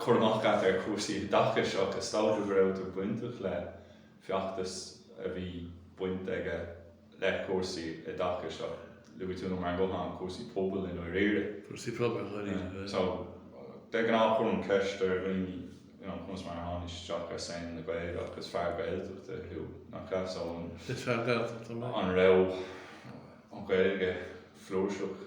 cur amach agat ar chúrsaí i dtaca seo agus samhlaíodh go raibh tú bainteach le feachtas a bhí baint aige le cúrsaí i dtaca seo. Luaigh tú liom ar an nguthán cúrsaí pobail i ndáiríre. Cúrsaí pobail i ndáiríre. So de ghnáth cuirim ceist ar dhaoine you know conas mar a tháinig isteach ar scene na Gaeilge ach is fear Gaeltachta thú nach ea so Is fear Gaeltachta mé. an raibh an Ghaeilge flúirseach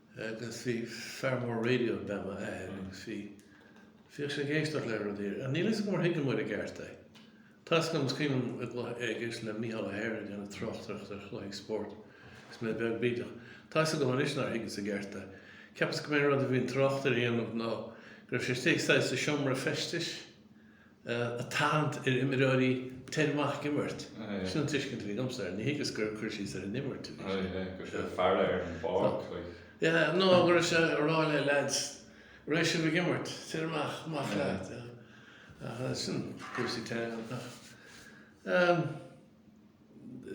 agus bhí fear mór raidió ab ea m'athair agus bhí, bhíodh sé ag éisteacht le rudaí ar, níl 'fhios agam ar thuigeamar i gceart é. Tá 'fhios agam, is cuimhin liom ag, ag éisteacht le Micheál Ó hEithir ag déanamh tráchtaireacht ar chluichí spóirt agus mé beag bídeach. Tá 'fhios agam anois nár thuigeas i gceart é. Cheapas go mba é an rud a bhí an tráchtaire a dhéanamh ná go raibh sé istigh saghas i seomra feistis, ag tathant ar imreoirí téigí amach ag imirt. Sin an tuiscint a bhí agamsa air. Níor thuigeas gur cur síos ar an imirt a bhí sé. Aye, aye. Go raibh sé ag faire ar an bpáirc, like. Yeah, nó go raibh sé ag rá le leaids, Raghaidh sibh ag imirt, tar amach, maith leat. Aye. Sin cúrsaí teangan ach eh,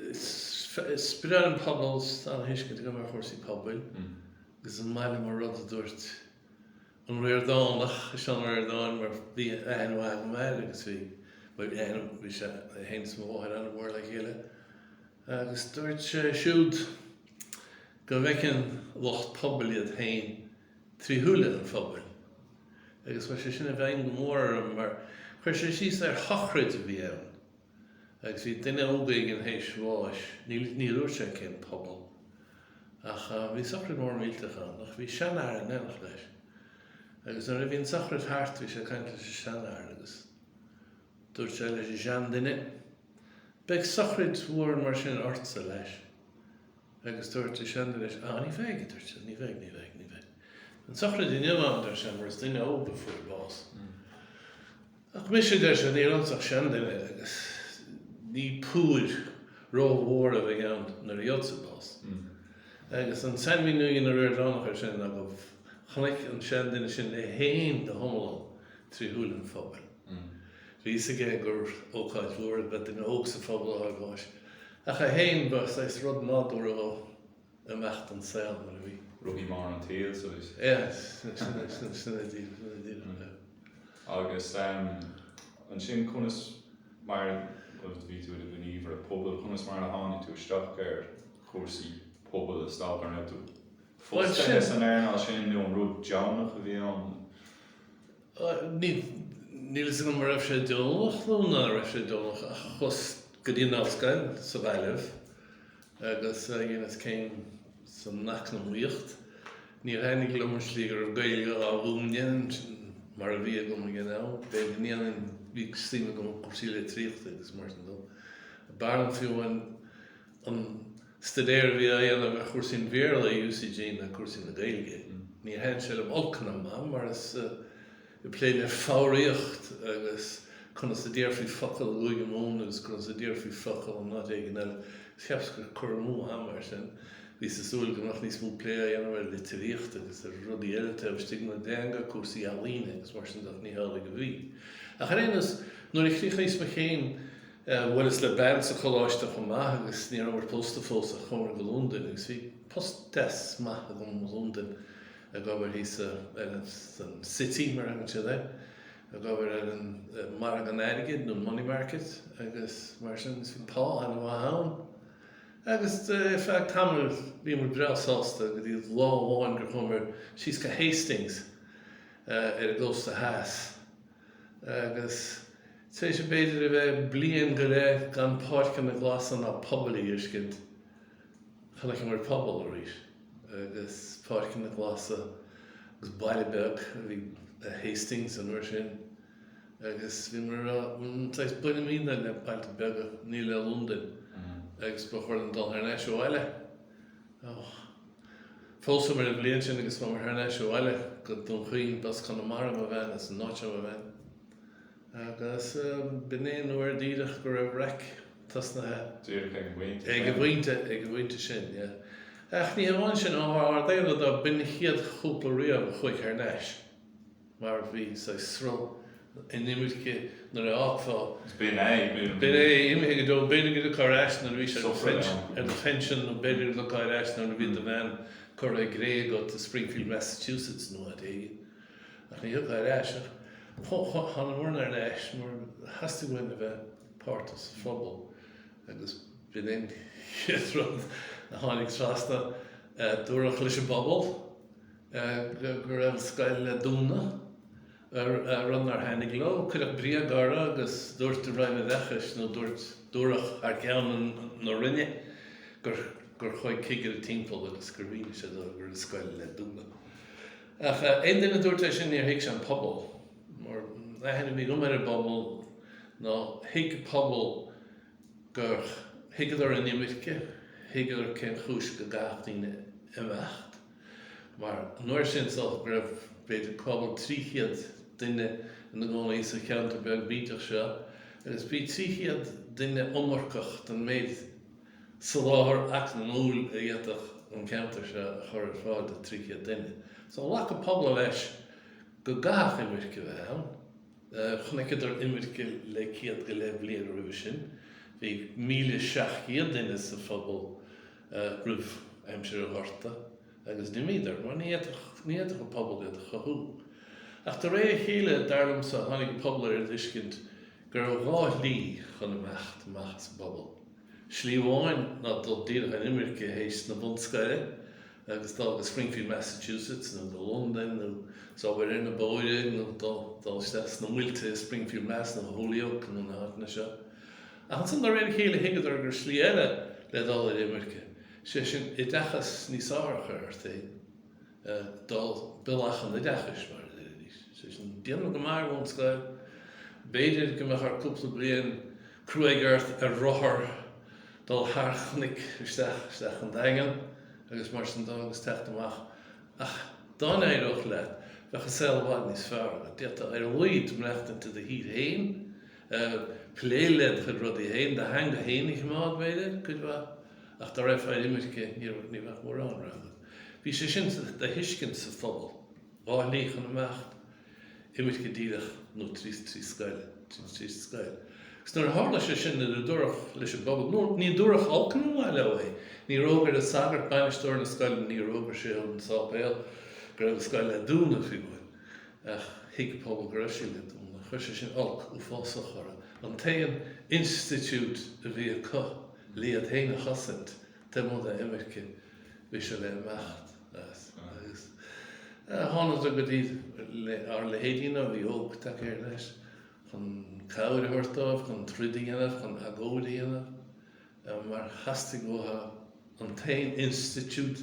is breá liom pobal, is tá an-tuiscint agam ar chúrsaí pobail, agus is maith liom an rud a dúirt An Ríordánach, Seán Ó Ríordáin mar bhí aithne mhaith agam air agus bhí, bhuel aithne, bhí sé féin is m'athair an-mhór le chéile agus dúirt sé siúd go bhfeiceann lucht pobail iad féin trí shúile an phobail agus chuir sé sin i bhfeidhm go mór orm mar chuir sé síos ar shochraid a bhí ann. Agus bhí duine óg éigin tar éis bháis, ní dúirt sé cén pobal, ach bhí sochraid mhór mhillteach ann, ach bhí seanfhear in éineacht leis. Agus nuair a bhí an tsochraid thart bhí sé ag caint leis an seanfhear agus dúirt sé leis an seanduine, Beidh sochraid mhór mar sin ortsa, leis. agus dúirt an seanduine leis, Á, ní bheidh, a dúirt sé, ní bheidh, ní bheidh, ní bheidh, an-sochraid inniu ann, a deir sé, mar is duine óg a fuair bás. Ach mise, a deir sé, níl ionam ach seanduine agus ní púir rómhór a bheidh ann nuair a gheobhadsa bás. Agus an sainmhíniú a dhein an Ríordánach air sin ná go chonaic an seanduine sin é féin go hiomlán trí shúile an phobail. Bhí a fhios aige gur ócáid mhór ab ea duine óg sa phobal ag fáil bháis. Ach é féin, ba saghas rud nádúrtha dó imeacht den saol nuair a bhí. Rothaí móra an tsaoil suas. Sea, sin é díreach. Agus ansin conas mar a bhí tú i do ghníomhaire pobail, conas mar a tháinig tú isteach ar chúrsaí pobail is dócha, an raibh tú fostaithe san earnáil sin nó an rud deonach a bhí ann? Níl a fhios agam an raibh sé deonach nó ná raibh sé deonach ach chuas go dtí an Ollscoil sa Ghaillimh agus dheineas céim san Eacnamaíocht. Níor thaitnigh liom an slí go raibh Gaeilge á mhúineadh ansan mar a bhí agam ag an am. B'fhéidir go ndéanfainn, bhí suim agam i gcúrsaí litríochta agus mar sin de. B'fhearr liom fiú an. an staidéar a bhí á dhéanamh ar chúrsaí an Bhéarla i UCG ná cúrsaí na Gaeilge. Níor thaitnigh sé liom olc ná maith, mar is ag plé le foghraíocht agus conas a déarfaí focal i gCúige Mumhan agus conas a déarfaí focal in áit éigin eile, is cheapas gur cur amú ama é sin. Bhíos ag súil go mbeadh níos mó plé á dhéanamh ar litríocht agus ar rudaí eile taobh istigh den teanga, cúrsaí ealaíne agus mar sin de ach ní hamhlaidh a bhí. Ach ar aon nós, nuair a chríochnaíos mo chéim, Bhuaileas le bean sa choláiste chomh maith agus ní rabhamar pósta fós ach chuamar go Londain agus bhí post deas maith agam i Londain ag obair thíos sa, san City mar a thugann siad air, ag obair ar an margadh an airgid nó an money market agus mar sin agus bhí pá ana mhaith ann agus ar feadh tamaill bhíomar breá sásta go dtí lá amháin gur chuamar síos go Hastings ar an gcósta theas. Agus tar éis b'fhéidir a bheith bliain go leith gan páirceanna glasa ná pobail a fheiscint, chonaiceamar pobal arís agus páirceanna glasa agus baile beag ab ea Hastings an uair sin agus bhíomar ag rá saghas bainimid le bailte beaga, ní le Londain agus ba chóir dúinn dul thar n-ais abhaile. Phósamar an bhliain sin agus chuamar thar n-ais abhaile go Dún Chaoin, b'as Conamara mo bhean, is an áit mo bhean. Agus b'in é an uair díreach go raibh raic tosnaithe. Díreach ag an bpointe sin. Ag an bpointe, ag an bpointe sin, yeah. Ach ní hamháin sin, ar ár ndála do b'in an chéad chúpla riamh a chuaigh thar n-ais. mar bhí saghas sruth inimirce nuair a fhágfá. B'in é, b'in é. Imithe go deo, b'fhéidir go dtiocfá ar ais nuair a bhís ar do phension nó b'fhéidir go dtiocfá ar ais nuair a bheadh do bhean curtha i gcré agat i Springfield Massachusetts nó áit éigin. Ach ní thiocfá ar ais ach thánamar ar ais mar theastaigh uainn a bheith páirteach sa phobal agus b'in é an chéad rud a tháinig trasna. Dúradh leis an bpobal. go raibh scoil le dúnadh an Roinn nár tháinig leo. Cuireadh bréag orthu agus dúirt an Roinn Oideachais nó dúirt dúradh thar ceann na Roinne gur gur chuaigh cigire timpeall agus gur mhínigh sé dóibh go raibh scoil le dúnadh. Ach aon duine a dúirt é sin níor thuig sé an pobal mar aithne a bhí agam ar an bpobal nó thuig pobal gur thuigeadar an imirce, thuigeadar cén chúis go gcaithfeadh daoine imeacht. mar an uair sin is dócha go raibh b'fhéidir cúpla trí chéad duine ina gcónaí sa cheantar beag bídeach seo agus bhí trí chéad duine iomarcach don méid soláthar eacnamúil a d'fhéadfadh an ceantar seo a chur ar fáil do trí chéad duine. So ghlac an pobal leis go gcaithfeadh imirce a bheith ann. Chonaiceadar imirce le céad go leith bliain roimhe sin, bhí míle seacht gcéad duine sa phobal, roimh aimsir an Ghorta agus d'imíodar, mar ní fhéadfadh an pobal iad a chothú. Ach de réir a chéile, dar liomsa, tháinig an pobal ar an dtuiscint go raibh dhá shlí chun imeacht amach as an bpobal. Slí amháin ná dul díreach ar imirce théis na bunscoile agus dul go Springfield Massachusetts nó go Londain nó is obair ar na bóithre nó dul isteach sna muilte i Springfield Mass nó Holyoke nó na háiteanna seo. Ach ansan de réir a chéile thuigeadar go raibh slí eile le dul ar imirce, sé sin oideachas níos fearr a chur ort féin, dul bealach an oideachais mar a deiridís, sé sin déanamh go maith ar bhunscoil, b'fhéidir go mbeadh ort cúpla bliain cruaidh ort ar rothar dul thar chnoic isteach, isteach an Daingean agus mar sin dó agus teacht amach. Ach dá n-éireodh leat bheadh an saol i bhfad níos fearr agat, d'fhéadfá ar a laghad maireachtaint i do thír fhéin, eh, plé le do chuid rudaí féin, do theanga féin a choimeád, b'fhéidir, cuid mhaith. Ach dá raghfá ar imirce, ní raibh, ní bheadh mórán rogha agat. Bhí sé sin sa, de thuiscint sa phobal, dhá shlí chun imeacht, imirce díreach nó trí, trí scoil, tríd, tríd an scoil. Agus nuair a tharla sé sin, nuair a dúradh leis an bpobal, nó ní dúradh olc ná maith leo é, níor fhógair an sagart, bainisteoir na scoile, níor fhógair sé sa sáipéal go raibh an scoil le dúnadh, fiú amháin. Ach thuig an pobal go raibh sé le dúnadh. Chuir sé sin olc uafásach orthu. An t-aon institiúid a bhí acu le iad féin a chosaint, taobh amuigh de imirce, bhí sé le imeacht. Agus thánadar go dtí ár leithéidíne a bhí óg, tagaithe thar n-ais, chun cabhair a thabhairt dóibh, chun troid a dhéanamh, chun agóid a dhéanamh, mar theastaigh uathu an t-aon institiúid,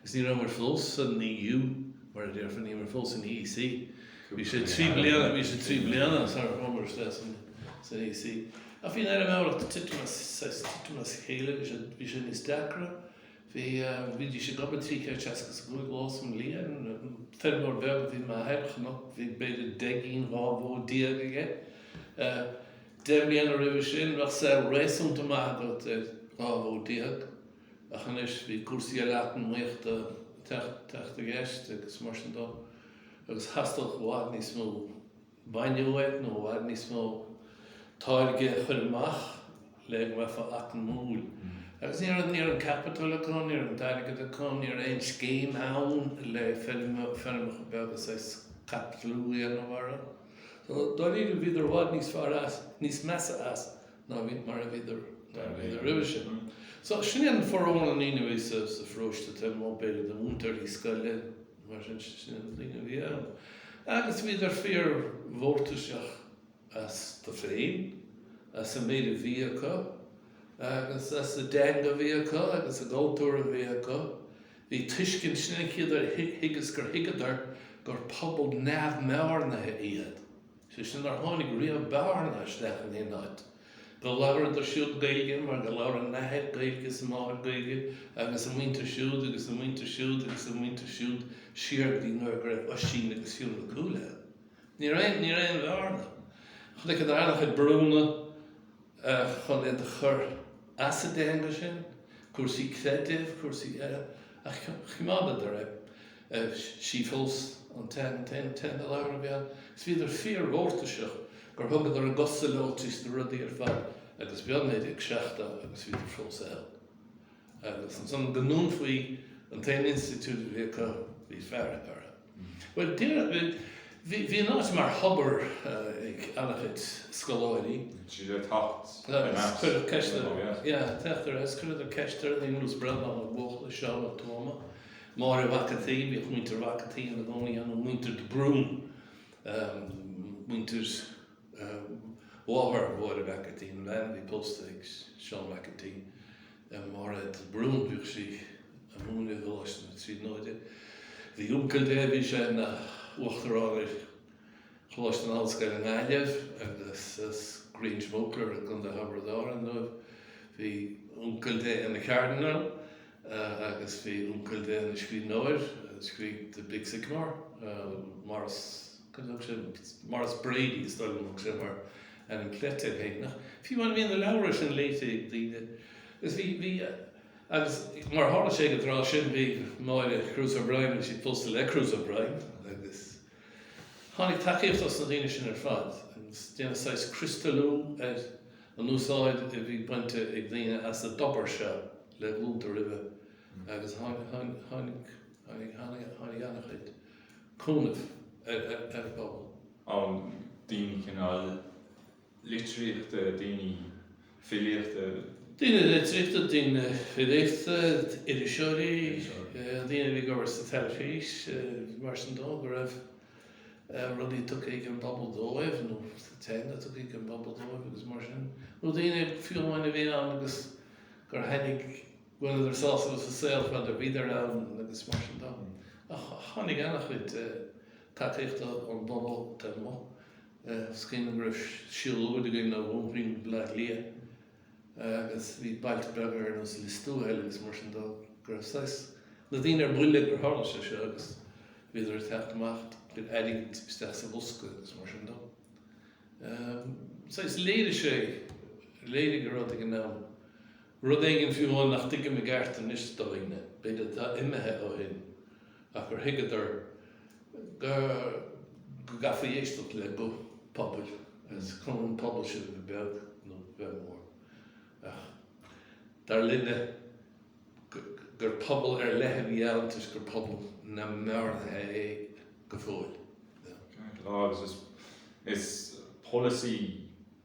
Agus ní rabhamar fós san EU, mar a déarfá, ní rabhamar fós san EEC. Bhí sé trí bliana, bhí sé trí bliana sara chuamar isteach san, san EEC. Ach bhí an fheirmeoireacht titim as, saghas titim as a chéile, bhí sé, bhí sé níos deacra. Bhí, bhídís ag obair trí chéad seasca is a cúig lá sa mbliain. Feirmeoir beag a bhí i m'athair, chnoc, bhí b'fhéidir deich gcinn, dhá bhó déag aige. Deich mbliana roimhe sin bheadh saol réasúnta maith agat ar dhá bhó déag. Ach anois bhí cúrsaí eile eacnamaíochta ag teacht i gceist agus mar sin de agus theastódh i bhfad níos mó bainne uaidh nó i bhfad níos mó táirge a chur amach le go mbeifeá eacnamúil. Agus ní raibh an capital acu, ní raibh an t-airgead acu, ní raibh aon scéim ann le feirmeacha beaga saghas caipitliú a dhéanamh orthu. So dáiríre bhíodar i bhfad níos fearr as, níos measa as. ná mar a bhíodar roimhe sin. So sin é an formhór na ndaoine a bhí sa pharóiste taobh amuigh b'fhéidir de mhúinteoir, bhí scoil ann, mar sin sin é na daoine a bhí ann. Agus bhíodar fíor mhórtaiseach astu féin, as an méid a bhí acu agus as a dteanga a bhí acu agus a gcultúr a bhí acu. Bhí tuiscint, sin an chéad uair a thuigeas gur thuigeadar gur pobal neamhbhearnaithe iad. sé sin nár tháinig riamh bearna isteach in aon áit, go labhradar siúd Gaeilge mar gur labhair a n-athair Gaeilge is a máthair Gaeilge agus a muintir siúd agus a muintir siúd agus a muintir siúd siar go dtí nuair go raibh Oisín agus Fionn Mac Cumhaill ann. Ní raibh aon bhearna. Chonaic an Earrach ag brúnna. chun iad a chur as a dteanga sin, cúrsaí creidimh, cúrsaí eile, ach choimeádadar é. Sí fós an t-aon teanga i láthair a bhí ann agus bhíodar fíor-mhórtaiseach gur thugadar a gcosa leo tar éis na rudaí ar fad agus b'in é 1970 agus bhíodar fós ann. Agus ansan go ndúnfaí an t-aon institiúid a bhí acu, bhí fearg orthu. Bhuel, d'fheidhmigh an áit mar thobar ag an-chuid scoláirí. Agus cuireadh ceist ar, yeah, teacht ar ais, cuireadar ceist ar Liam agus Breandán Ó Buachalla, Seán Ó Tuama, Máire Mhac an tSaoi, bhíodh muintir Mhac an tSaoi ina gcónaí ann, muintir de Brún, muintir mháthair Mháire Mhac an tSaoi, an bhean a bhí pósta ag Seán Mac an tSaoi. Mairéad de Brún. Bhíodh sí ag múineadh i gColáiste na Tríonóide. Bhí uncail léi, bhí sé ina uachtarán ar Choláiste na hOllscoile i nGaillimh agus as Gráinseach Mhóicléir i gContae Thiobraid Árann dóibh. Bhí uncail léi ina Chardineál agus bhí uncail léi ina scríbhneoir, scríobh The Big Sycamore, Maurice, cad a thug sé, Maurice Brady is dóigh liom a thug sé mar. ainm cleite air féineach, mar bhí na leabhra sin léite ag daoine. Agus bhí, bhí, agus mar a tharla sé ag an tráth sin bhí Máire Cruise O'Brien, bhí sí pósta le Cruise O'Brien agus tháinig tacaíocht ós na daoine sin ar fad agus deineadh saghas criostalú ar an úsáid a bhí bainte ag daoine as an dtobar seo le glúnta roimhe agus tháinig, tháinig, tháinig, tháinig, tháinig an-chuid cúnaimh ar, ar, ar an bpobal. ann daoine cineál litríochta, daoine filíochta. daoine litríochta, daoine filíochta, iriseoirí, daoine a bhí ag obair sa teilifís, mar sin de, go raibh rudaí tugtha ag an bpobal dóibh nó teanga tugtha ag an bpobal dóibh agus mar sin. Nó daoine fiú amháin a bhí ann agus gur tháinig, bhaineadar sásamh as an saol fad a bhíodar ann agus mar sin de. Ach tháinig an-chuid. tacaíochta ón bpobal taobh amuigh. Is cuimhin liom go raibh siúlóid againn ó Dhún Chaoin go Baile Átha Cliath agus bhí bailte beaga ar nós Liostuathail agus mar sin dóibh go raibh saghas, na daoine ar buile gur tharla sé seo agus bhíodar ag teacht amach le airgead isteach sa bhosca agus mar sin dó. Saghas, léirigh sé, léirigh go raibh ag an am rud éigin fiú amháin nach dtuigim i gceart anois do dhaoine, b'fhéidir atá imithe ó shin. ach gur thuigeadar go gcaithfí éisteacht le guth pobail agus cuma an pobal sin a bheith beag nó a bheith mór, ach dar linne gur pobal ar leith a bhí ann toisc gur pobal na mBlascaodaí é go fóill. Ceart go leor, agus is polasaí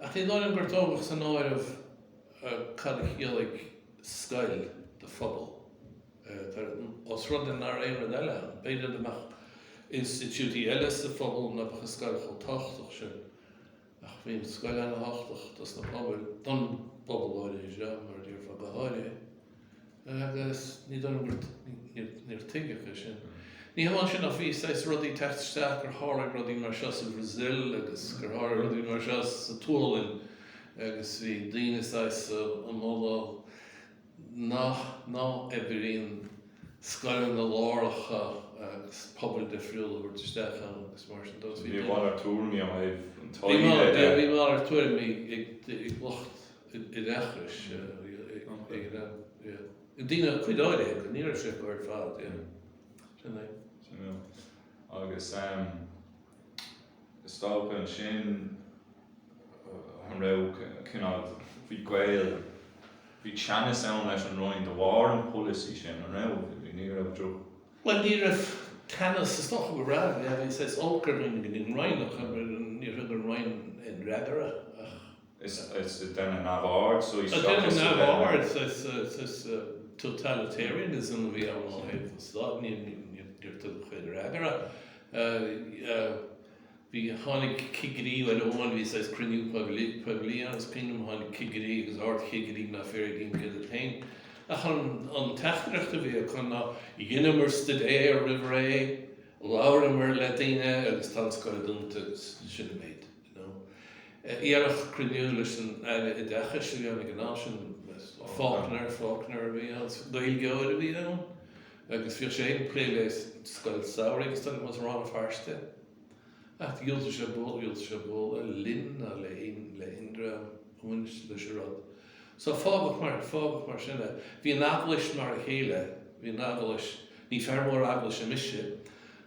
Ach ní dóigh liom gur tógadh san áireamh cad a chiallaigh scoil do phobal. Os rud é ná raibh aon rud eile ann, b'fhéidir go mbeadh institiúidí eile sa phobal ná beadh an scoil chomh tábhachtach sin. Ach bhí an scoil ana-thábhachtach dos na pobail, don bpobal áirithe seo, mar a déarfá, go háirithe. Agus ní dóigh liom gur, níor tuigeadh é sin. Ní hamháin sin ach bhí saghas rud ag teacht isteach gur tharlaigh rudaí mar seo sa Bhrasil agus gur tharlaigh rudaí mar seo sa tSualainn agus bhí daoine saghas á mholadh nach, ná oibríonn scoileanna láithreacha agus pobail difriúla a thabhairt isteach ann agus mar sin de. Bhí a mhalairt tuairimí á thabhairt, an taoide eile. Bhí a mhalairt tuairimí ag lucht. oideachais ag daoine, cuid áirithe acu, ní raibh sé acu ar fad, sin é. Sin é. Agus is dócha ansin an raibh cineál bhí Gaeil bhí teannas ann leis an Roinn de bharr an pholasaí sin, an raibh? Ní raibh droch. Bhuel ní raibh teannas, is dócha go raibh, is olc ar dhaoine go dtí an Roinn ach níor thug an Roinn aon fhreagra ach. Deineadh neamhaird, totalitarianism a bhí ann ó thaobh an stáit, níor tugadh aon fhreagra. Bhí, tháinig cigirí, uair amháin, bhí saghas cruinniú poiblí ann, is cuimhin liom, tháinig cigirí agus ard-chigirí na fir i gCinn Mhíle féin. Ach an teachtaireacht a bhí acu ná dheineamar stuidéar roimh ré, labhramar le daoine agus tá an scoil dúnta agus sin an méid. nó iarracht cruinniú leis an Aire Oideachais a dhéanamh ag an am sin, Faulkner, Faulkner a bhí ann, Gaeilgeoir a bhí ann agus bhíodh sé ag plé le scoil samhraidh agus thuas i Rann na Feirste ach dhiúltaigh sé bualadh, dhiúltaigh sé bualadh linn ná le héin, le héinne go raibh aon bhaint acu leis an rud. So fágadh mar, fágadh mar sin é. Bhí an Eaglais mar a chéile, bhí an Eaglais, ní fear mór Eaglaise mise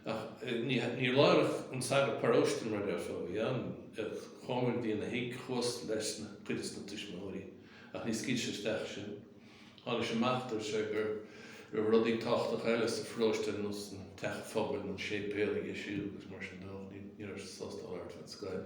ach ní, ní labharfadh an sagart paróiste mar a déarfá, bhí an, chuamar go dtína thigh, chuas leis na, cuid de na tuismitheoirí ach ní scaoilfeadh sé isteach sinn. Tháinig sé amach, dúirt sé go raibh rudaí tábhachtacha eile sa pharóiste nó san teach phobail nó an séipéal aige siúd agus mar sin de ach ní, ní raibh sé sásta labhairt fén scoil.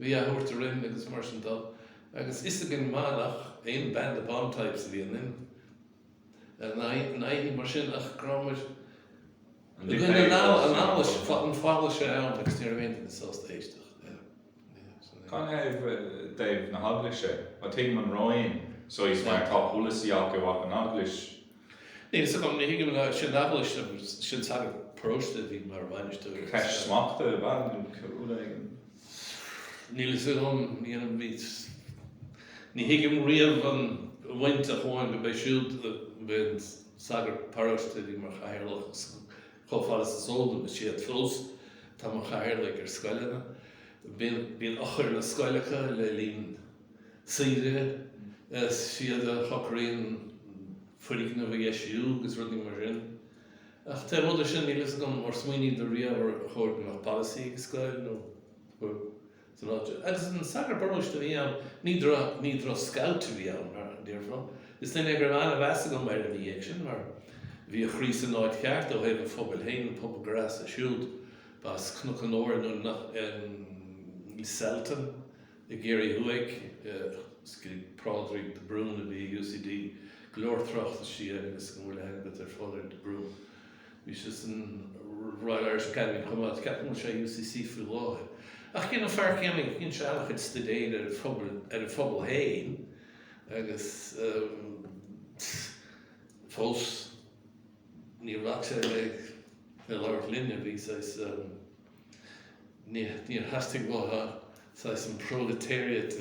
Bhí a thabhairt orainn agus mar sin de agus fhios aige go maith nach aon ban the bomb types a bhí ionainn ná aon ní mar sin ach go raibh muid i gcoinne an fhalla, an falla sé ann agus ní raibh éinne sásta éisteacht linn. Ó thaobh na hEaglaise, tuigim an Roinn so he's mar tá polasaí acu ach an Eaglais Níl fhios agam, ní thuigim go, sin Eaglais, sin sagart paróiste a bhí mar bhainisteoir ar an scoil. Ceist smachta ab ea nó rud éigin? Níl fhios agam, ní dhéanaim níos, ní thuigim riamh an bhaint a chuaigh go b'é siúd a b'é an sagart paróiste a bhí mar chathaoirleach chomh fada is is eol dom, is iad fós atá mar chathaoirligh ar scoileanna. Bíonn, bíonn eochair na scoile acu le linn. saoire, is iad a shocraíonn foirgneamh a dheisiú agus rudaí mar sin. Ach taobh amuigh de sin níl a fhios agam, ar smaoiníodar riamh ar chóir go mbeadh polasaí ag scoil nó san áit seo? Agus an sagart paróiste a bhí ann, ní ní droch scout a bhí ann mar a déarfá. Is duine é go raibh an-mheas agam air ina dhiaidh sin mar bhí a chroí san áit cheart ó thaobh a phobail féin, an pobal gur as siúd, ba as Cnoc an Fhómhair nó Lisselton? I gCiarraí Thuaidh, scrígh Pádraig de Brún a bhí i UCD. Go leor tráchtas sí agus an bhfuil a fhios agat ar Phádraig de Brún? Bhí sé san Royal Irish Academy chomh maith. Ceapaim go bhfuil sé i UCC faoi láthair. Ach é an fear céanna a dhein sé an-chuid staidéir ar an phobal, ar an phobal féin agus fós níor bhac sé le labhairt linne, bhí, saghas. Níor theastaigh uathu saghas an proletariat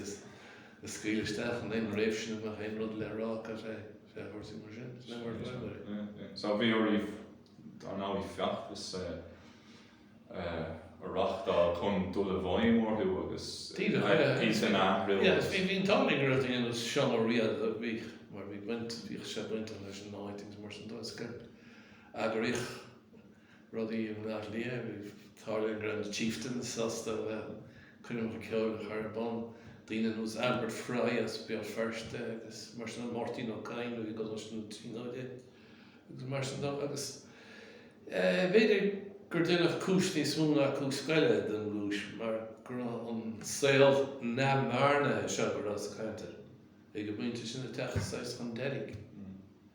a scaoileadh isteach in aon réimhse ina mbeadh aon rud le rá acu fé chúrsaí mar sin. Is leor mar atá sé. So bhí oraibh dar ndóigh feachtas a reachtáil chun dul i bhfeidhm orthu agus píosa in athrú. Yeah, bhí bhí an t-ádh go raibh daoine Seán Ó Riada bhí mar bhí baint bhíodh sé baint leis an áit agus mar sin dó is gur eagraíodh Rudaí i mBleá Cliath, tharla go raibh na Chieftains sásta a bheith ann, coirmeacha ceoil a chur ar bun, daoine ar nós Albert Fry as Béal Feirste agus mar sin dó, Máirtín Ó Cadhain i gColáiste na Tríonóide agus mar sin dó agus b'fhéidir gur deineadh cúis níos mó ná cúis scoile den gcúis mar go raibh an saol neamhbhearnaithe seo go rabhas ag caint air ag an bpointe sin ag teacht saghas chun deiridh.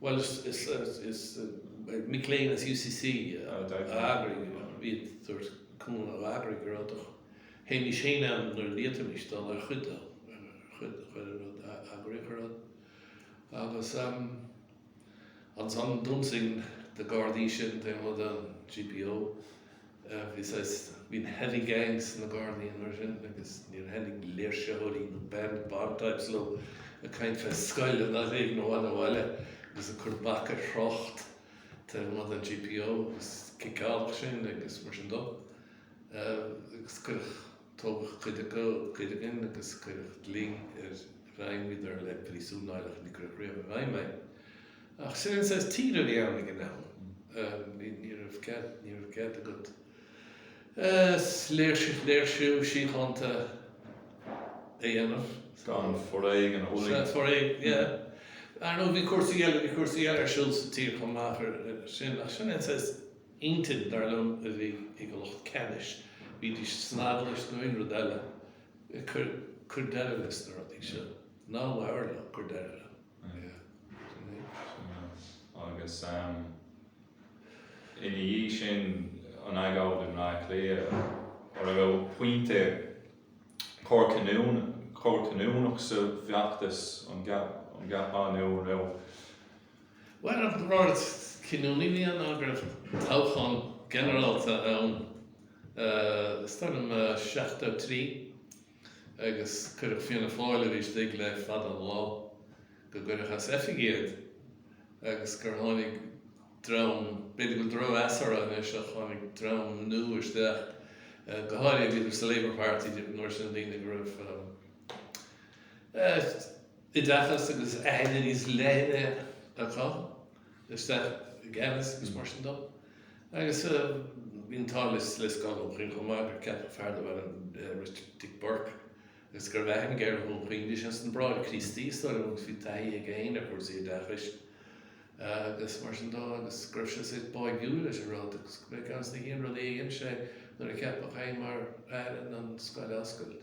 Bhuel is mic léinn as UCC a d'eagraigh, iad dúirt Conall a d'eagraigh go raibh do théimis féin ann nuair a d'fhéadfaimis dul ar chuid de, chuid de chuile rud a eagraíodh ar fad. Agus ansan d'ionsaigh na Gardaí sinn, taobh amuigh den GPO, Bhí saghas, bhí an Heavy Gang sna Gardaí an uair sin agus níor thaitnigh léirsitheoirí nó Ban the Bomb types leo ag caint fé scoil in áit éigin i bhfad ó bhaile agus ag cur bac ar thrácht taobh amuigh den GPO agus ciceáladh sinn agus mar sin dó agus cuireadh Tógadh cuid acu, cuid againn agus cuireadh dlí ar ghreimíodar le príosún air ach níor cuireadh riamh i bhfeidhm é. Ach sin an saghas tír a bhí ann ag an am. Ní raibh cead, ní raibh cead agat léirsiú síochánta a dhéanamh. Gan foréigean a bhualadh. Gan foréigean, yeah. Ar ndóigh bhí cúrsaí eile, bhí cúrsaí eile ar siúl sa tír chomh maith sin ach sin an saghas Intinn, dar liom, a bhí ag an lucht ceannais. Bídís san eaglais nó aon rud eile. Cuir, cuir deireadh leis na rudaí seo. Ná labhair leo, cuir deireadh leo. Yeah. Sin é. Sin é. Agus ina dhiaidh sin, an agóid i mBleá Cliath, an raibh pointe cor cinniúna, cor cinniúnach sa bhfeachtas an gceapann tú, an raibh. Bhuel, an rud cinniúnaí ná go raibh toghchán ginearálta ann thar an 73 agus cuireadh Fianna Fáil a bhí istigh le fada an lá, gur cuireadh as oifig iad agus gur tháinig dream, b'fhéidir go bhfuil drochmheas orthu anois ach tháinig dream nua isteach, go háirithe bhíodar sa Labour Party an uair sin daoine go raibh eh, oideachas agus aithne níos leithne acu isteach i gceannas agus mar sin dó. Agus bhí an t-ádh le Scoil Dhún Chaoin chomh maith gur ceapadh fear darb ainm Richard Dick Burke agus go raibh aithne aige ar Dhún Chaoin. Bhí sé ins na Bráithre Críostaí is dóigh liom agus bhí taithí aige féin ar chúrsaí oideachais agus mar sin dó agus go raibh sé saghas báidhiúil leis an rud agus gurb é an chéad rud a dhein sé nuair a ceapadh é mar Aire ná an scoil a oscailt.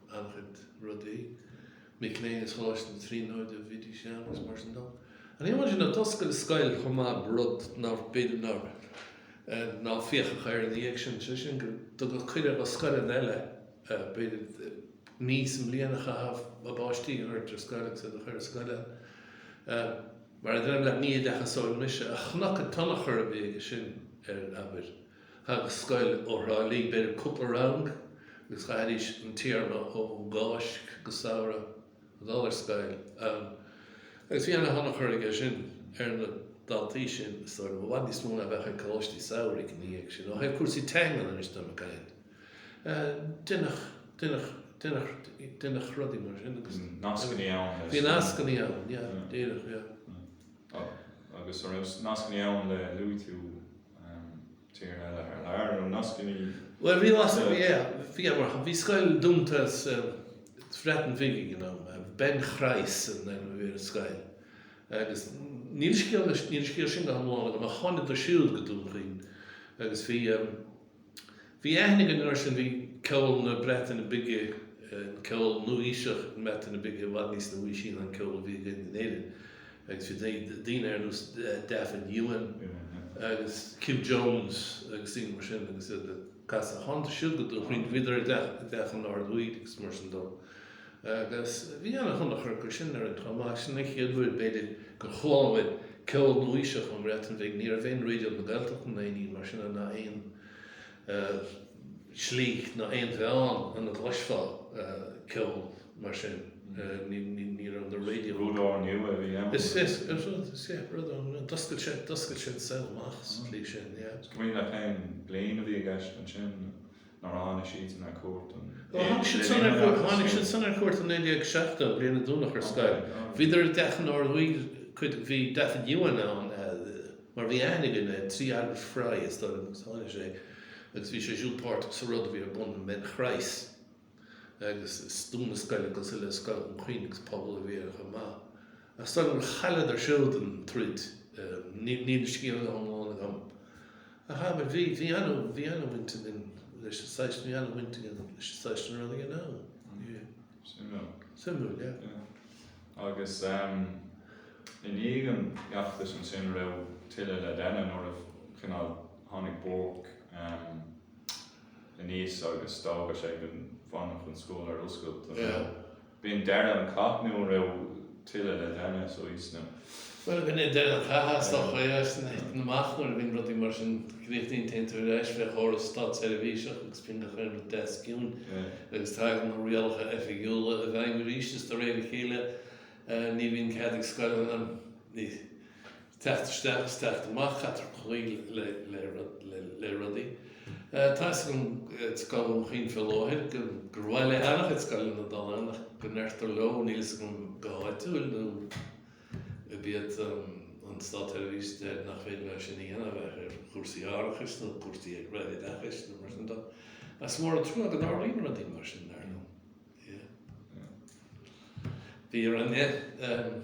an-chuid rudaí, mic léinn as Choláiste na Tríonóide a bhídís ann agus mar sin dó. An iomlán sin ag oscailt scoil chomh maith rud ná b'fhéidir nár ná féachadh air ina dhiaidh sin, sé sin go dtugtaí cuireadh do scoileanna eile b'fhéidir mí sa mbliain a chaitheamh a bpáistí a thabhairt ar scoil agus iad a chur ar scoil ann. Mar a deirim leat, ní oideachasóir mise ach chonac an tionchar a bhí aige sin ar, abair, Thagadh scoil ó Thrá Lí b'fhéidir cúpla rang agus chaithidís an téarma ó Cháisc go Samhradh a dhul ar scoil ann agus bhí ana thionchar aige sin ar na daltaí sin is dóigh liom, i bhfad níos mó ná a bheadh ag Coláistí Samhraidh ina dhiaidh sin. Ó thaobh cúrsaí teangan anois dá mbeadh aon, deineadh, deineadh, deineadh, deineadh rudaí mar sin agus. Bhí nascannaí ann le. Bhí nascannaí ann, yeah, díreach, yeah. Agus a' raibh nascannaí ann le, luaigh tú. tíortha eile thar lear nó nasc an oíche. Bhuel bhí mar is eol, bhí, yeah mar bhí scoil dúnta sa Bhreatain Bhig ag an am. Bryncroes a bhí ar an scoil agus níl scéal níl scéal sin go hiomlán agam ach thánadar siúd go Dún Chaoin agus bhí Bhí aithne againn orthu sin, bhí ceol na Breataine Bige, an ceol nua-aoiseach na Breataine Bige i bhfad níos nua-aoisí ná an ceol a bhí againn in Éirinn agus bhí daoine ar nós Dafydd Iwan agus Kyff Jones agus daoine mar sin agus iad ag casadh, tháinig siúd go Dún Chaoin, bhíodar i dteach an Daorduigh agus mar sin dó. agus bhí ana thionchar acu sin ar an am ach sin an chéad uair b'fhéidir gur chuala muid ceol nuaoiseach ón mBreatain Bhig, ní raibh aon Raidio na Gaeltachta ná aon ní mar sin ann ná aon slí ná aon mheán ina gcloisfeá ceol mar sin, ní raibh na raidió. Rud úrnua a bhí ann. Is ea, rud úrnua, d'oscail sé, d'oscail sé an saol amach sa tslí sin, yeah. An cuimhin leat cén bliain a bhí i gceist ansin? Nuair a tháinig siadsan ar cuairt in. Ó tháinig siad san ar cuairt, tháinig siad san ar cuairt i 1970, bliain a dúnadh an scoil. Bhíodar i dteach an Daorduigh, cuid, bhí Dafydd Iwan ann mar bhí aithne againn air, trí Albert Fry is dóigh agus tháinig sé agus bhí sé siúd páirteach sa rud a bhí ar bun i mBryncroes agus dúnadh scoil agus cosúil le scoil Dhún Chaoin agus pobal a bhí air chomh maith. Ach is dóigh liom gur chailleadar siúd an troid, níl an scéal iomlán agam. A ha, bhuel bhí, bhí ana, bhí ana bhaint againn leis an saghas, bhí ana bhaint againn leis an saghas na rudaí ann. Bhí. Suimiúil. Suimiúil, yeah. Yeah. Agus ehm, i ndiaidh an fheachtais ansin an raibh tuilleadh le déanamh nuair a chineál tháinig Bourke ehm, aníos agus d'fhága sé go bhfanfadh an scoil ar oscailt, an raibh. Yeah. B'in deireadh an cath nó an raibh tuilleadh le déanamh sa gcaoi sna. Bhuel, b'in é deireadh an chath, is dócha é, ach 's é a thiteann amach nuair a bhíonn rudaí mar sin. Críochnaíonn, téann tú ar ais fé chóras státseirbhíse agus bíonn gach aon rud deas ciúin agus tagann na rialacha oifigiúla i bhfeidhm arís is de réir a chéile ní bhíonn cead ag scoileanna, ní. teacht isteach is teacht amach caitear cloí le rudaí. Tá 'fhios agam i scoil Dhún Chaoin faoi láthair gur mhaith le an-chuid scoileanna dul ann ach go ndeirtear leo, níl 'fhios agam go háitiúil nó ab iad an státseirbhís a deir nach féidir leo sin a dhéanamh de bharr cúrsaí árachais nó cúrsaí eagraithe oideachais nó mar sin de. Is mór an trua go dtarlaíonn rudaí mar sin dar liom. Yeah. Bhí ar an yeah, um,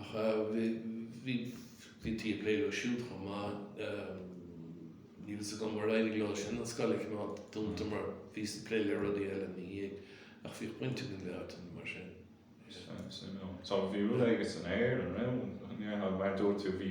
Ach bhítí ag plé leo siúd chomh maith. Níl fhios agam ar éirigh leo sin an scoil a choimeád dúnta mar bhíos ag plé le rudaí eile ina dhiaidh. Ach bhíodh baint againn le háiteanna mar sin. Bhí rud éigin san aer, an raibh? Mar a dúirt tú bhí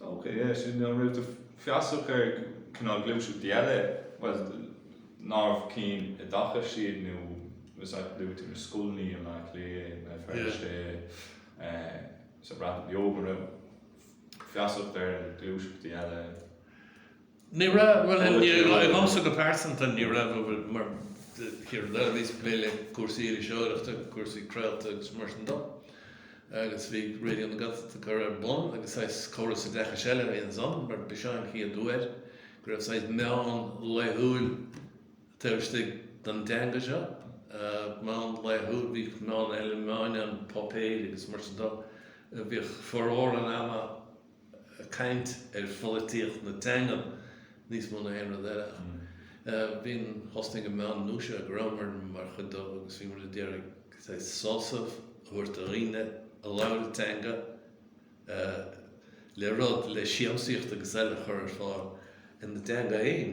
Okay, yeah, sin, an raibh tú feasach ar chineál gluaiseachtaí eile, bhuel, nárbh cinn i dtaca siad nó is ait go luaigh tú na scoileanna i mBleá Cliath, i mBéal Feirste, eh, sa Bhreatain Bheag, an raibh feasacht ar ghluaiseachtaí eile? Ní raibh, bhuel inniu, liomsa go pearsanta ní raibh, mar níor, nuair a bhíos ag plé le cúrsaí iriseoireachta, cúrsaí craolta agus mar sin de, agus bhí Raidió na Gaeltachta á chur ar bun agus saghas córas oideachais eile a bhí ansan mar b'shin an chéad uair go raibh saghas meán laethúil taobh istigh den dteanga seo, meán laethúil, bhíodh meáin eile, meáin an pháipéir agus mar sin de, bhíodh formhór an ama. caint ar pholaitíocht na teangan níos mó ná aon rud eile ach bhíonn, thosnaigh an meán nua seo go rabhamar mar chuid de agus bhí muid ag iarraidh saghas sásamh a thabhairt do dhaoine a labhair an teanga le rud, le siamsaíocht agus eile a chur ar fáil ina dteanga fhéin.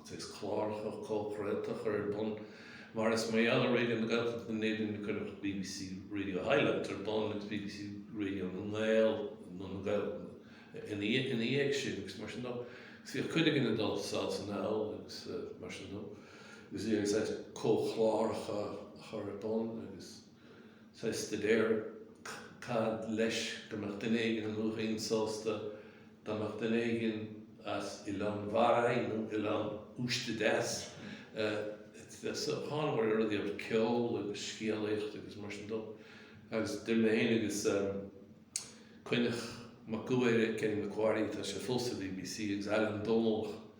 agus cláracha comhchraolta a chur ar bun, mar is mar gheall ar Raidio na Gaeltachta in Éirinn a cuireadh bbc Radio Highland ar bun agus bbc Radio na nGael nó na nGael ina dhiaidh sin agus mar sin de agus bhíodh cuid againn ag dul sall is anall agus mar sin de agus bhí agus comhchláracha a chur ar bun agus Sa staidéar cad leis go mbeadh duine éigin i Maigh Cuilinn sásta dá mbeadh duine éigin as Oileán Bharraigh nó Oileán Uiste Deas bheith sa thábhairne le rudaí amhail ceol agus scéalaíocht agus mar sin dó agus dhein mé féin agus Coinneach Mac Guaire, Kenny McQuarrie, atá sé fós sa bbc, agus Ailean Domhnallach.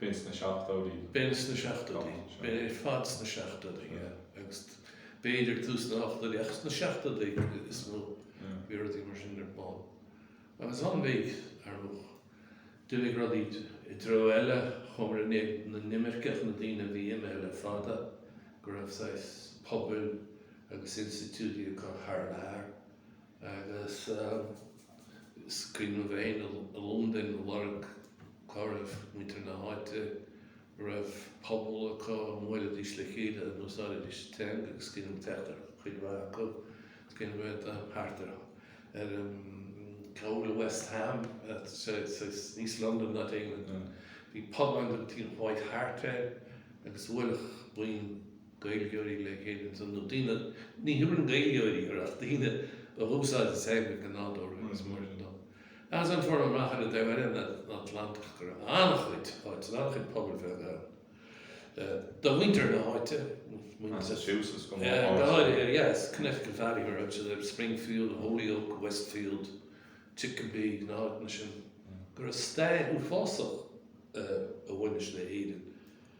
B'in sna seachtóidí. B'in sna seachtóidí. B'in ar fad sna seachtóidí, yeah. Agus b'fhéidir tús na hochtóidí, ach sna seachtóidí is mó bhí rudaí mar sin ar bun. Agus ina dhiaidh, ar ndóigh, d'imigh rudaí i dtreo eile, chuamar in éadan na n-imirceach, na daoine a bhí imithe le fada, go raibh saghas pobail agus institiúidí acu thar lear. Agus is cuimhin liom féin i Londain ag lorg cá raibh muintir na háite an raibh pobal acu, an mbuailidís le chéile, an úsáididís an teanga agus is cuimhin liom teacht ar chuid mhaith acu, is cuimhin liom a bheith thart ar chúl West Ham, East London not England, bhí pub ann, White Hart, agus bhuaileadh buíon Gaeilgeoirí le chéile ansan, nó daoine. Ní thabharfainn Gaeilgeoirí orthu ach daoine a dh'úsáideadh Gaeilge go nádúrtha agus mar sin dó. Ansan fuaireas amach ar an dtaobh eile den Atlantach go raibh an-chuid áit, an-chuid pobail bheaga ann do mhuintir na háite, Massachusetts go háirithe, yes, Connecticut Valley mar a thug siad air, Springfield, Holyoke, Westfield, Chicopee, na háiteanna sin, go raibh stair uafásach a bhaineas le hÉirinn.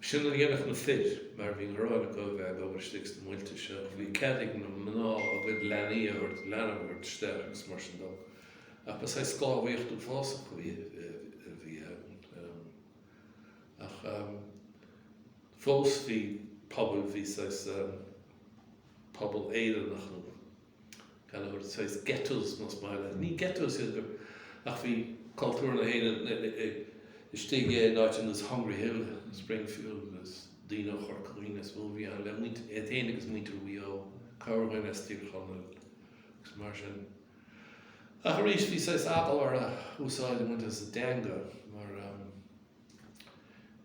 B'shin a dhéanadh na fir mar bhí gráin acu a bheith ag obair istigh sna muilte seo ach bhí cead ag na mná a gcuid leanaí, leanaí a thabhairt isteach agus mar sin dó. Ach ba saghas sclábhaíocht uafásach a bhí, a bhí ann. Ach fós bhí pobal, bhí saghas pobal Éireannach nó. Gaelach, saghas ghettos más maith leat é. Ní ghettos iad ach bhí cultúr na hÉireann istigh i n-áiteanna ar nós Hungry Hill, Springfield agus daoine ó Chorca Dhuibhne is mó a bhí ann, le muintir iad féin agus muintir Mhaigh Eo, corrbhean as Tír Chonaill agus mar sin. Ach arís bhí saghas eagla orthu úsáid a bhaint as a dteanga mar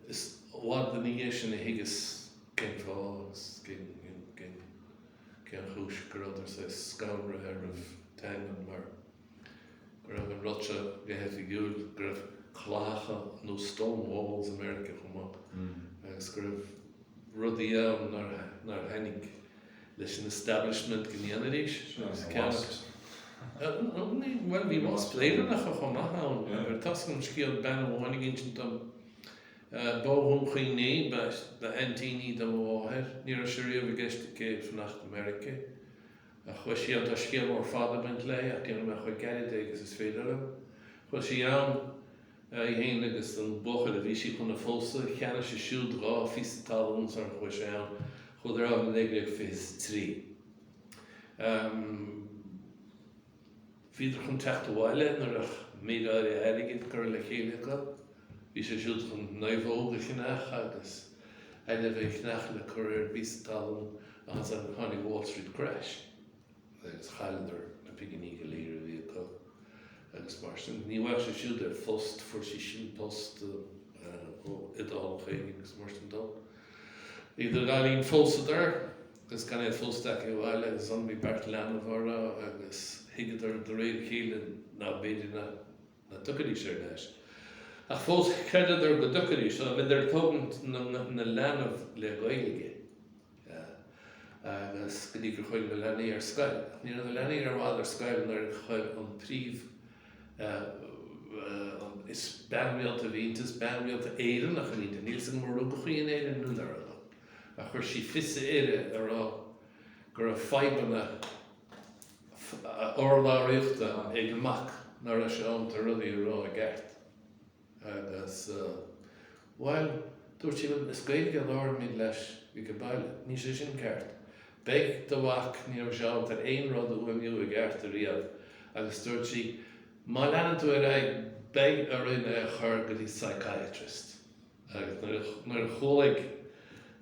is i bhfad ina dhiaidh sin a thuigeas cén fáth agus cén Cén chúis go rabhadar saghas scanraithe roimh an teangain? Mar go raibh an rud seo go hoifigiúil, go raibh claíocha nó stone walls i Meiriceá chomh maith agus go raibh rudaí ann nár tháinig leis an establishment go ndéanfaidh arís. Bhuel bhí wasp Éireannacha chomh maith ann. Ar tusa an scéal bean amháin ag insint dom, B'ó Dhún Chaoin í, ba aintín í do mo mháthair. Ní raibh sé riamh i gceist aici fanacht i Meirice. Ach chuaigh sí ann, tá scéal mór fada ag baint léi ach déanfaidh mé chomh gairid é agus is féidir liom. Chuaigh sí ann, í féin agus an buachaill a bhí sí chun a phósadh. Cheannaigh sé siúd dhá phíosa talún sara chuaigh sé ann. Chuadar ann i 1923. Bhíodar chun teacht abhaile nuair a bheadh méid áirithe airgid curtha le chéile acu. Bhí sé siúd chun naomhóg a cheannach agus ainmhithe a cheannach le cur ar an bpíosa talún ach ansan tháinig Wall Street Crash agus chailleadar na pinginí go léir a bhí acu agus mar sin ní bhfaigheadh sé siúd aon phost, fuair sí sin post ó Iodálach éigin agus mar sin dó. Idir an dá linn phósadar. Agus gan iad fós tagtha abhaile agus ansan bhí beirt leanbh orthu agus thuigeadar de réir a chéile ná b'fhéidir ná ná tiocfaidís ar ais. Ach fós chreideadar go dtiocfaidís so bhíodar ag tógaint na leanbh le Gaeilge agus go dtí gur chuaigh na leanaí ar scoil. Ach ní raibh na leanaí i bhfad ar scoil nuair a chuir an príomh is bean rialta a bhí inti, bean rialta Éireannach a bhí inti. Níl a fhios agam ar rugadh í in Éirinn nó nár a chuir sí fios uirthi a rá go raibh fadhbanna urlabhraíochta ag a mac nár raibh sé ábalta rudaí a rá i gceart agus bhuel dúirt sí bhuel is Gaeilge a labhraímid leis age baile, níl sé sin ceart. Beidh do mhac, ní raibh sé ábalta aon rud a fhuaimniú i gceart riamh agus dúirt sí má leanann tú ar aghaidh beidh orainn é a chur go dtí psychiatrist. agus nuair a chualaigh,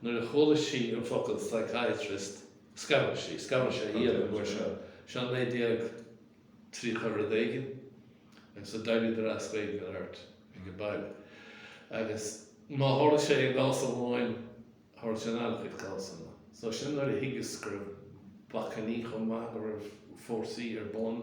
nuair a chuala sí an focal psychiatrist, scanraigh sí, scanraigh sé iad an uair seo, seo naoi déag tríocha rud éigin agus d'éiríodar as Gaeilge a labhairt age baile. Agus má tharla sé i gcás amháin, tharla sé in an-chuid cásanna. So sin nuair a thuigeas go raibh bacainní chomh maith, go raibh fórsaí ar bun.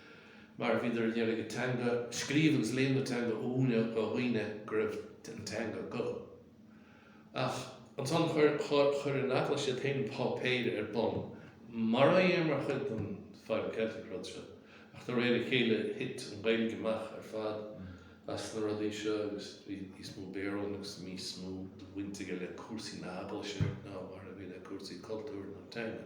mar a bhíodar a d'iarraidh an teanga a scríobh agus léamh na teanga a mhúineadh dho dhaoine go raibh an teanga acu. Ach ansan chuir an Eaglais iad féin an páipéir ar bun, mara dhéa mar chuid den Philo-Celtic rud seo, ach do réir a chéile thit an Ghaeilge amach ar fad as na rudaí seo agus bhí níos mó Béarla agus níos mó do bhaint aige le cúrsaí na hEaglaise ná mar a bhí le cúrsaí cultúir nó teanga.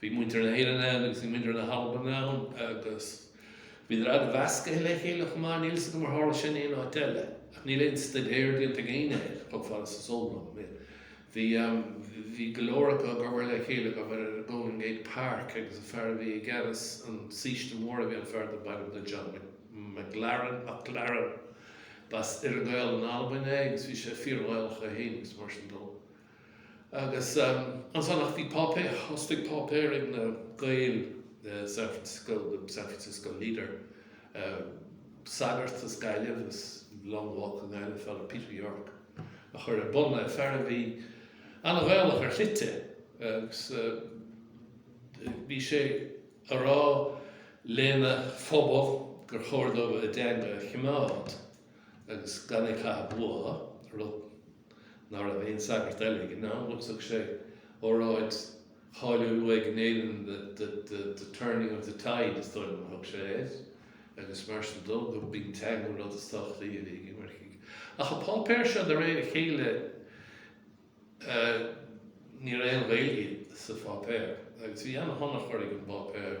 Bhí muintir na hÉireann ann agus bhí muintir na hAlban ann agus bhíodar an-mheascaithe le chéile chomh maith. Níl 's agam ar tharla sin aon áit eile ach níl aon stuidéar déanta ag éinne air, chomh fada is is eol dom é. Bhí, em, bhí go leor acu ag obair le chéile, ag obair ar an Golden Gate Park agus an fear a bhí i gceannas an saoiste mór a bhí ann, fear darb ainm dó John McLaren, MacLaren. B'as Earra-Ghael in Albain é agus bhí sé fíor-Ghaelach é féin agus mar sin dó. Agus ansan, ach bhí páipéar, thosaigh páipéar ag na Gaeil i San Francisco, The San Francisco Leader, sagart as Gaillimh, as Long Walk i nGaillimh, Father Peter Yorke, a chuir ar bun é, fear a bhí an-Ghaelach ar shlite agus bhí sé a rá lena phobal gur chóir dóibh a dteanga a choimeád agus gan é a chaitheamh uathu, rud. ná raibh aon sagart eile ag an am, agus thug sé óráid cháiliúil uaidh in Éirinn, 'The Turning of the Tide' is dóigh liom a thug sé air, agus mar sin dó, gurb í an teanga an rud is tábhachtaí uilig ag imircigh. Ach an páipéar seo, de réir a chéile, ní raibh aon Ghaeilge sa pháipéar, agus bhí an-tionchar ag an bpáipéar.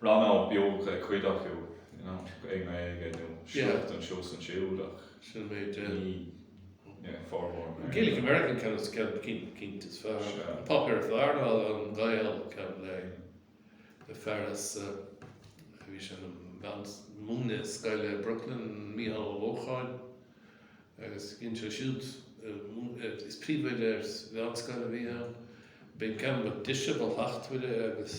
Rannóg an-bheag ag cuid acu i nGaeilge nó sliocht anso is ansúd ach ní formhór na Gaeilge. Gaelic American ceann is ceann cinnte is fearr. An páipéar is fearr ná an Gael ceann le fear as a bhí sé ag múineadh i scoil i Brooklyn, Micheál Ó Lócháin, agus dhein sé siúd is príomhoide ar mheánscoil a bhí ann. B'in an ceann ba dheise, ba shlachtmhaire agus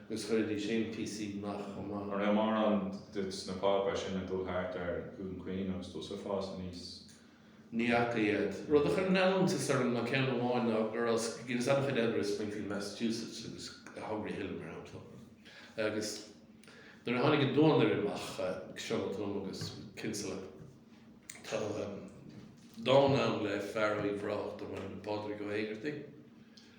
agus chuir Lee Chéin píosaí maith chomh maith. Cha raibh mórán de na páipéir sin ag dul thart ar Dhún Chaoin agus tú ag fás aníos. Ní fhaca iad. Rud a chuir an-iontas orm ná ceann amháin ná go raibh Guinness an-chuid eile i Springfield Massachusetts agus i Hungry Hill mar shampla agus nuair a tháinig An Duanaire amach, Seán Ó Tuama agus Kinsella, tá dán ann le fear ó Uíbh Ráthach darb ainm Pádraig Ó hÉigeartaigh.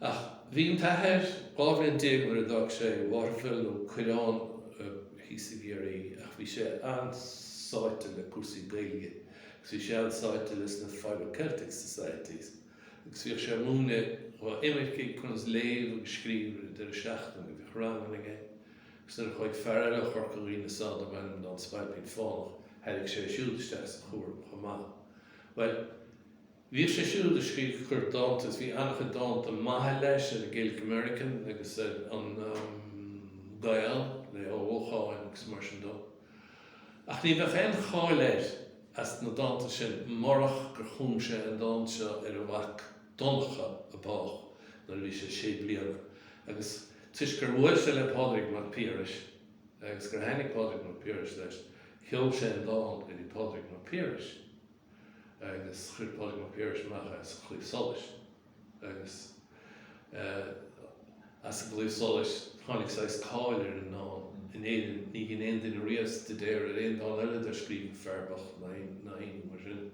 Ach bhí an t-athair 12 bhliain nuair a d'fhág sé Waterville nó Coireán thíos i gCiarraí ach bhí sé an-sáite le cúrsaí Gaeilge agus bhí sé an-sáite leis na Philo-Celtic Societies agus bhíodh sé ag múineadh dho imircigh conas léamh agus scríobh ar an deireadh seachtaine. Bhíodh ranganna aige agus nuair a chuaigh fear eile ó Chorca Dhuibhne sall darb ainm dó an Spailpín Fánach tháinig sé siúd isteach sa chúram chomh maith. Bhuel, Bhíodh sé siúd ag scríobh chuir dánta agus bhí an-chuid dánta maithe leis ar an Gaelic American agus ar an Gael le Ó Lócháin agus mar sin dó. Ach ní bheadh aon cháil air as na dánta sin murach gur chum sé an dán seo ar a mhac Donncha a bádh nuair a bhí sé sé bliana agus toisc gur bhuail sé le Pádraig Mac Piarais agus gur thaitnigh Pádraig Mac Piarais leis sheol sé an dán go dtí Pádraig Mac Piarais. agus chuir Pádraig Mac Piarais amach é sa Chlaíomh Solais agus as an gClaíomh Solais tháinig saghas cáil ar an ndán. In Éirinn níor dhein aon duine riamh staidéar ar aon dán eile dár scríobh an fear bocht ná aon ní mar sin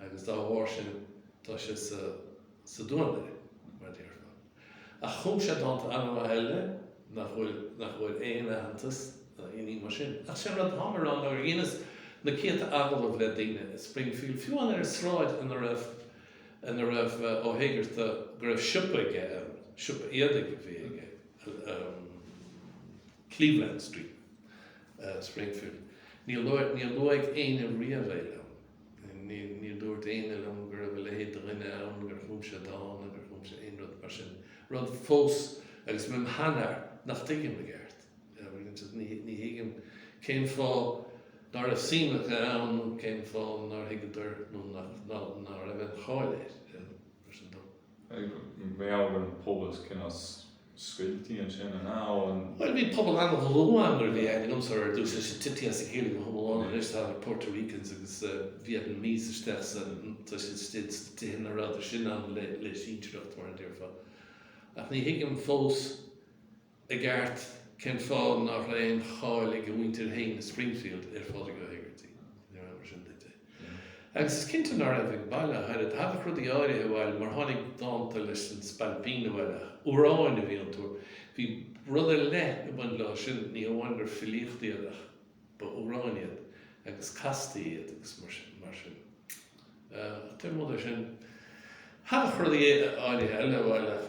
agus dá bharr sin tá sé sa Duanaire mar a déarfá. Ach chum sé dánta an-mhaith eile nach bhfuil nach bhfuair aon aitheantas ná aon ní mar sin. Ach sé rud atáim a rá nuair a dheineas na céadta agallamh le daoine i Springfield, fiú amháin ar an sráid ina raibh ina raibh Ó hÉigearta go raibh siopa aige ann, siopa éadaigh a bhí aige ann, Cleveland Street, Springfield. Níor luaigh éinne riamh é liom. Ní dúirt éinne liom go raibh a leithéid de dhuine ann, gur chum sé dán nó gur chum sé aon rud mar sin. Rud fós, agus mé im' sheanfhear, nach dtuigim i gceart. Ní thuigim cén fáth ná raibh suim acu ann nó cén fáth nár thuigeadar nó ná raibh aon cháil air mar sin dó. Bhuel an pobal cineál scoilte ansin, an ea? Bhuel, bhí pobal an-dhlúth ann nuair a bhí aithne agamsa ar dtús, ansin titithe as a chéile na pobail ann anois, tháinig Puerto Ricans agus Vietnamese isteach sa, tá siad istigh sna tithe ina rabhadar sin ann le sinsearacht, mar a déarfá. Ach ní thuigim fós i gceart cén fáth nach raibh aon cháil ag a mhuintir féin i Springfield ar Phádraig Ó hÉigeartaigh, nuair a fheabhsaigh sin duit é. Agus is cinnte ná raibh ag baile ach oiread. Thagadh rudaí áirithe abhaile mar tháinig dánta leis an Spailpín abhaile ach amhráin a bhí iontu. Bhí rud ar leith ag baint leo sin, ní hamháin gur filíocht iad ach ba amhráin iad agus castaí iad agus mar sin. Ach taobh amuigh de sin, thagadh rudaí áirithe eile abhaile ach.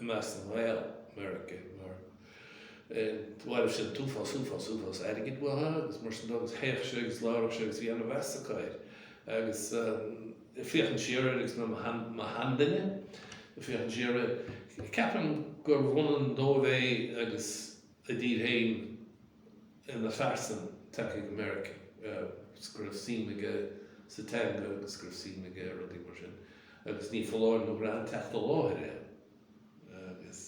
i measc na nGael, America, mar bhailíodh sé an t-uafás, uafás, uafás airgid uathu agus mar sin dó agus théadh sé agus labhradh sé agus bhí an-mheas acu air agus ag féachaint siar air agus mé im' sheanduine ag féachaint siar air ceapaim gurbh ionann dóibh é agus a dtír féin ina phearsain tagtha go Meiriceá agus go raibh suim aige sa teanga agus go raibh suim aige i rudaí mar sin agus ní foláir nó go raibh an teacht i láthair aige agus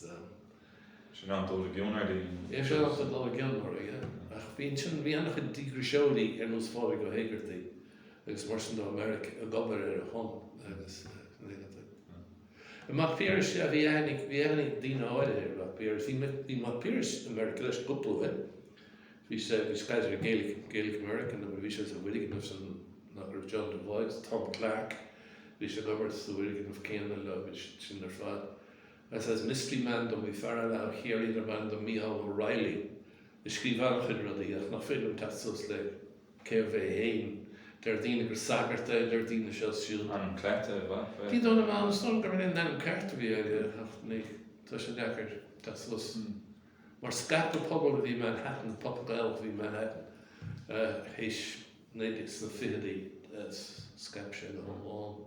Sin an dul i gcion ar dhaoine. Is sin an dul i gcion mar aige. Ach bhí ansin bhí ana chuid díograiseoirí ar nós Phádraig Ó Héigeartaigh agus mar sin dó i Meiriceá ag obair ar a shon agus I Mac Piarais a bhí aithne ag daoine áirithe ar Mhac Piarais. Bhí Mac Piarais i Meiriceá leis cúpla uair. Bhí sé agus Kaiser ag Gaelic American nuair a bhí sé sa bhfoirgneamh san ina raibh John Devoy, Tom Clarke, bhí sé ag obair sa bhfoirgneamh céanna leo agus sin ar fad. Agus is Mystery Man dom bhí fear eile ó Chiarraí darbh ainm dó Micheál O'Reilly a scríobh an-chuid rudaí ach nach féidir liom teacht suas le cérbh é fhéin. Deir daoine gur sagart é, deir daoine seo 's siúd. Ainm cleite é b'fhéidir. Ní dóigh liom, is dóigh liom gurb é an t-ainm ceart a bhí aige ach ní, tá sé deacair teacht suas. Mar scaip an pobal a bhí i Manhattan, pobal Gaelach a bhí i Manhattan, théis, sna ficheadaí scaip sé go hiomlán.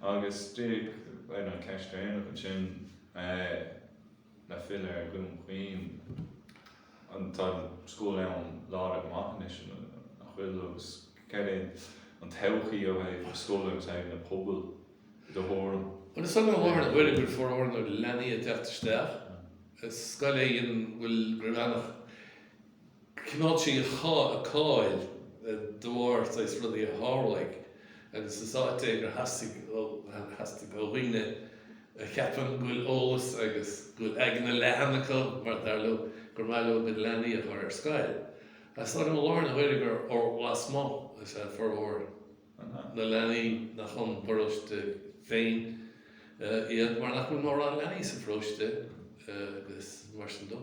Agus díreach an cheist dheireanach ansin le filleadh ar Dhún Chaoin, tá an scoil ann láidir go maith anois nach bhfuil? Agus céard é an todhchaí ó thaobh na scoile agus ó thaobh na pobail i do thuairim? Bhuel is é mo bharúil gur formhór na leanaí ag teacht isteach. Is scoil í an bhfuil Gray Manach. Choimeád sí a cáil de bharr saghas rudaí a tharlaigh agus is áit é gur theastaigh ó dhaoine a cheapann go bhfuil eolas agus go bhfuil aigne leathan acu mar dar leo gur maith leo a gcuid leanaí a chur ar scoil. Is dóigh liom i láthair na huaire gur ó lasmuigh is ea formhór na leanaí nach ón bparóiste féin iad mar nach bhfuil mórán leanaí sa pharóiste agus mar sin dó.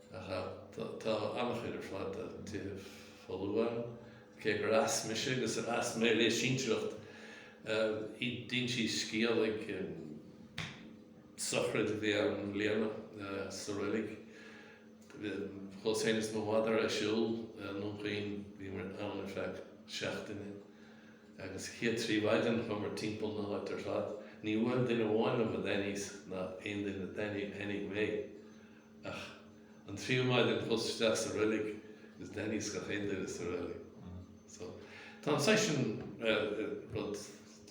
Ach tá an-chuid ar fad de thithe folmha ann. Cé gur fhás mise agus ar fhás mé le sinsearacht i dtintí Scéalaigh, sochraid a bhí ann i mbliana sa reilig. Chuas féin is mo mhadra ag siúl i nDún Chaoin, bhíomar ann ar feadh seachtaine agus sa chéad trí mhaidin chuamar timpeall na háite ar fad. Níor bhuail duine amháin liom a d'aithníos ná aon duine a d'aithnigh mé. Ach an tríú maidin chuas isteach sa reilig is d'aithníos gach aon duine sa reilig. So, tá an saghas sin rud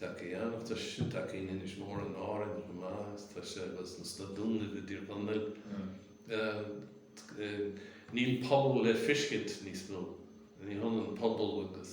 deacair i nDún Chaoin. Tá sé sin deacair in Inis Mór in Árainn chomh maith agus tá sé sna Dúnaibh i dTír Chonaill. Níl pobal le feiscint níos mó. Ní hionann pobal agus.